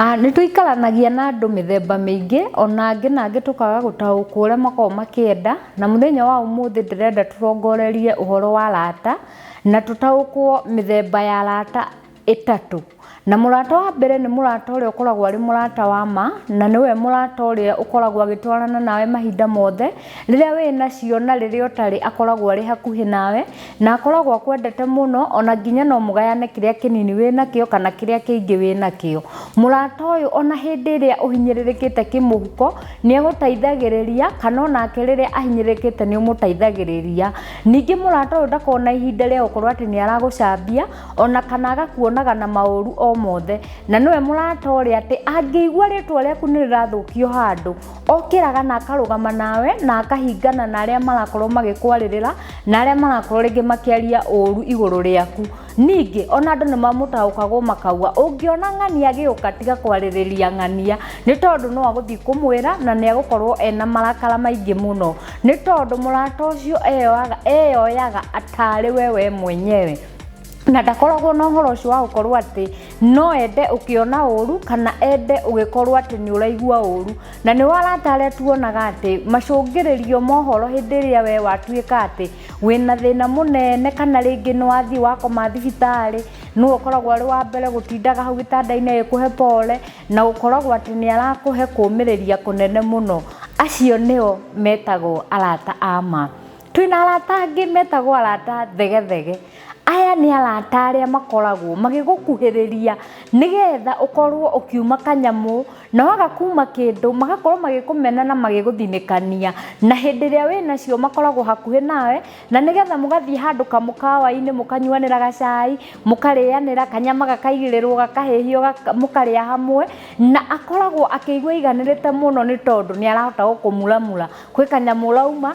Ah, nĩ tũikaranagia na andũ mĩthemba mĩingĩ ona angĩ na angĩ tũkaga gũtaũkwo ũrĩa makoragwo makĩenda na mũthenya wa ũmũthĩ ndĩrenda tũrongorerie ũhoro wa arata na tũtaũkwo mĩthemba ya arata ĩtatũ. Na mũrata wa mbere nĩ mũrata ũrĩa ũkoragwo arĩ mũrata wa ma na nĩwe mũrata ũrĩa ũkoragwo agĩtwarana nawe mahinda mothe, rĩrĩa wĩna cio na rĩrĩa ũtarĩ akoragwo arĩ hakuhĩ nawe. Na akoragwo akwendete mũno, o na nginya no mũgayane kĩrĩa kĩnini wĩ nakĩo kana kĩrĩa kĩingĩ wĩ nakĩo. Mũrata ũyũ o na hĩndĩ ĩrĩa ũhinyĩrĩrĩkĩte kĩmũhuko, nĩ agũteithagĩrĩria, kana o nake rĩrĩa ahinyĩrĩrĩkĩte nĩ ũmũteithagĩrĩria. Ningĩ mũrata ũyũ ndakoragwo na ihinda rĩa gũkorwo atĩ nĩ aragũcambia, o na kana agakuonaga na maũru o mothe. Na nĩwe mũrata ũrĩa atĩ, angĩigua rĩtwa rĩaku nĩ rĩrathũkio handũ, okĩraga na akarũgama nawe na akahingana na arĩa marakorwo magĩkwarĩrĩra na arĩa marakorwo rĩngĩ makĩaria ũũru igũrũ rĩaku ningĩ ona andũ nĩ mamũtaũkagwo makaua ũngĩona ng'ania agĩũka tiga kwarĩrĩria ng'ania nĩ tondũ no agũthiĩ kũmwĩra na nĩ agũkorwo ena marakara maingĩ mũno nĩ tondũ mũrata ũcio eyoaga eyoyaga atarĩ we we mwenyewe na ndakoragwo na ũhoro ũcio wa gũkorwo atĩ no ende ũkĩona ũru kana ende ũgĩkorwo atĩ nĩ ũraigua ũru na nĩ warata arĩa tuonaga atĩ macũngĩrĩrio mohoro hĩndĩ ĩrĩa we watuĩka atĩ wĩna thĩna mũnene kana rĩngĩ nĩ wathiĩ wakoma thibitarĩ nĩwe ũkoragwo arĩ wa mbere gũtindaga hau gĩtanda-inĩ agĩkũhe pole na ũkoragwo atĩ nĩ arakũhe kũmĩrĩria kũnene mũno acio nĩo metagwo arata a ma. Twĩna arata angĩ metagwo arata thegethege. Aya nĩ arata arĩa makoragwo magĩgũkuhĩrĩria nĩgetha ũkorwo ũkiuma kanyamũ, na waga kuma kĩndũ magakorwo magĩkũmena na magĩgũthinĩkania. Na hĩndĩ ĩrĩa wĩnacio makoragwo hakuhĩ nawe, na nĩgetha mũgathiĩ handũ kamũkawa-inĩ mũkanyuanĩra gacai, mũkarĩanĩra, kanyama gakaigĩrĩrwo gakahĩhio mũkarĩa hamwe, na akoragwo akĩigua aiganĩrĩte mũno nĩ tondũ nĩ arahota gũkũmuramura. Kwĩ kanyamũ ũrauma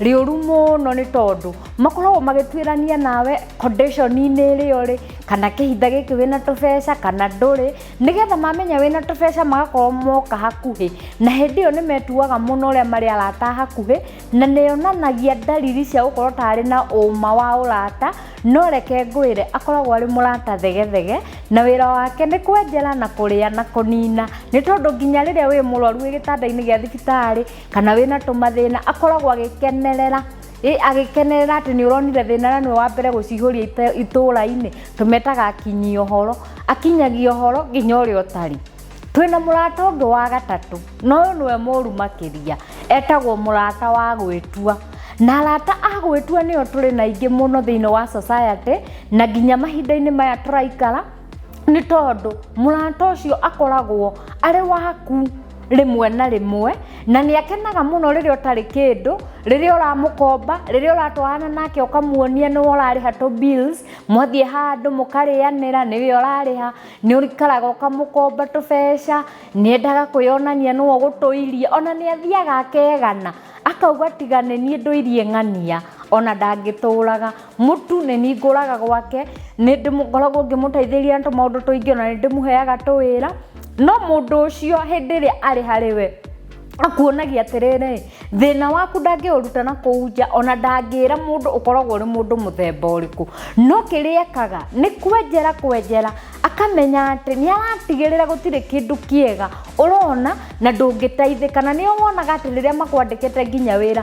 rĩũru mũno nĩ tondũ makoragwo magĩtuĩrania nawe condition-inĩ ĩrĩ ũrĩ kana kĩhinda gĩkĩ wĩna tũbeca kana ndũrĩ nĩgetha mamenya wĩna tũbeca magakorwo moka hakuhĩ na hĩndĩ ĩyo nĩ metuaga mũno ũrĩa marĩ arata a hakuhĩ na nĩ yonanagia ndariri cia gũkorwo ta arĩ na ũma wa ũrata no reke ngwĩre akoragwo arĩ mũrata thegethege na wĩra wake nĩ kwenjera na kũrĩa na kũnina nĩ tondũ nginya rĩrĩa wĩ mũrwaru wĩ gĩtanda-inĩ gĩa thibitarĩ kana wĩna tũmathĩna akoragwo agĩkenerera ĩ agĩkenerera atĩ nĩ ũronire thĩna na nĩwe wa mbere gũcihũria ite- itũũra-inĩ tũmetaga akinyia ũhoro akinyagia ũhoro nginya ũrĩa ũtarĩ twĩna mũrata ũngĩ wa gatatũ na ũyũ nĩwe mũru makĩria etagwo mũrata wa gwĩtua na arata a gwĩtua nĩo tũrĩ na aingĩ mũno thĩinĩ wa society na nginya mahinda-inĩ maya tũraikara nĩ tondũ mũrata ũcio akoragwo arĩ waku rĩmwe na rĩmwe na nĩ akenaga mũno rĩrĩa ũtarĩ kĩndũ rĩrĩa ũramũkomba rĩrĩa ũratwarana nake ũkamuonia nĩwe ũrarĩha tũ bills mwathiĩ handũ mũkarĩanĩra nĩwe ũrarĩha nĩ ũikaraga ũkamũkomba tũbeca nĩ endaga kwĩyonania nĩwe ũgũtũirie ona nĩ athiaga akegana akauga tiga nĩ niĩ ndũirie ng'ania ona ndangĩtũraga. mũtu nĩ ningũraga gwake nĩ ngoragwo ngĩmũteithĩrĩria na tũmaũndũ tũingĩ ona nĩ ndĩmũheaga tũwĩra no mũndũ ũcio hĩndĩ ĩrĩa arĩ harĩ we akuonagia atĩrĩrĩ thĩna waku ndangĩũruta na kũu nja ona ndangĩra mũndũ ũkoragwo ũrĩ mũndũ mũthemba ũrĩkũ no kĩrĩa ekaga nĩ kwenjera kwenjera akamenya atĩ nĩ aratigĩrĩra gũtirĩ kĩndũ kĩega ũrona na ndũngĩteithĩka na nĩo wonaga atĩ rĩrĩa makwandĩkĩte nginya wĩra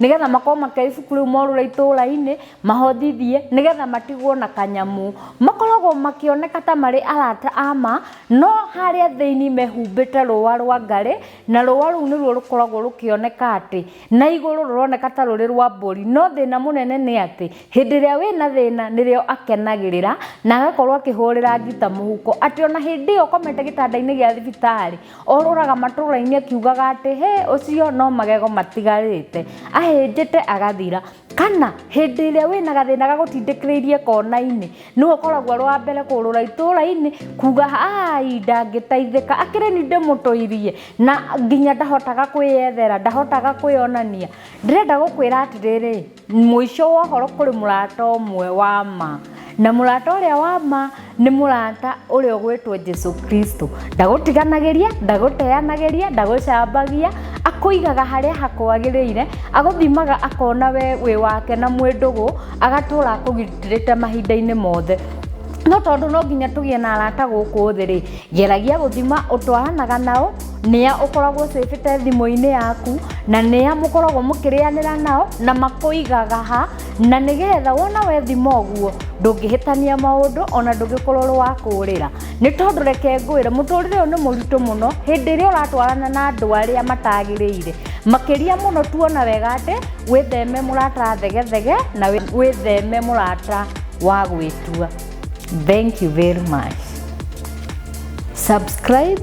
nĩgetha makorwo makĩoya ibuku rĩu morũre itũũra-inĩ mahonjithie nĩgetha matigwo na kanyamũ makoragwo makĩoneka ta marĩ arata ama no harĩa thĩinĩ mehumbĩte rũa rwa ngarĩ na rũa rũu nĩruo rũkoragwo rũkĩoneka atĩ na igũrũ rũroneka ta rũrĩ rwa mbũri no thĩna mũnene nĩ atĩ hĩndĩ ĩrĩa wĩna thĩna nĩrĩo akenagĩrĩra na agakorwo akĩhũrĩra ngita mũhuko atĩ ona hĩndĩ ĩyo ũkomete gĩtanda-inĩ gĩa thibitarĩ Orũraga matũũra-inĩ akiugaga atĩ, Hĩ! Ũcio no magego matigarĩte. Ahĩnjĩte agathira. Kana hĩndĩ ĩrĩa wĩna gathĩna gagũtindĩkĩrĩirie kona-inĩ, nĩwe ũkoragwo arĩ wa mbere kũũrũra itũũra-inĩ kuuga, Aai! Ndangĩteithĩka. Akĩrĩ niĩ ndĩmũtũirie. Na nginya ndahotaga kwĩyethera, ndahotaga kwĩyonania. Ndĩrenda gũkwĩra atĩrĩrĩ, Mũico wa ũhoro kũrĩ mũrata ũmwe wa ma. Na mũrata ũrĩa wa ma nĩ mũrata ũrĩa ũgwĩtwo Jesu Kristo. Ndagũtiganagĩria, ndagũteanagĩria, ndagũcambagia, akũigaga harĩa hakwagĩrĩire, agũthimaga akona we wĩ wake na mwĩ ndũgũ, agatũra akũgitĩrĩte mahinda-inĩ mothe. No tondũ no nginya tũgĩe na arata gũkũ thĩ-rĩ, geragia gũthima ũtwaranaga nao, nĩa ũkoragwo ũcĩbĩte thimũ-inĩ yaku na nĩa mũkoragwo mũkĩrĩanĩra nao na makũigaga ha na nĩgetha wona wethima ũguo ndũngĩhĩtania maũndũ ona ndũngĩkorwo ũrĩ wa kũũrĩra nĩ tondũ reke ngwĩre mũtũrĩre ũyũ nĩ mũritũ mũno hĩndĩ ĩrĩa ũratwarana na andũ arĩa matagĩrĩire makĩria mũno tuona wega atĩ wĩtheme mũrata thegethege na wĩtheme mũrata wa gwĩtua thank you very much subscribe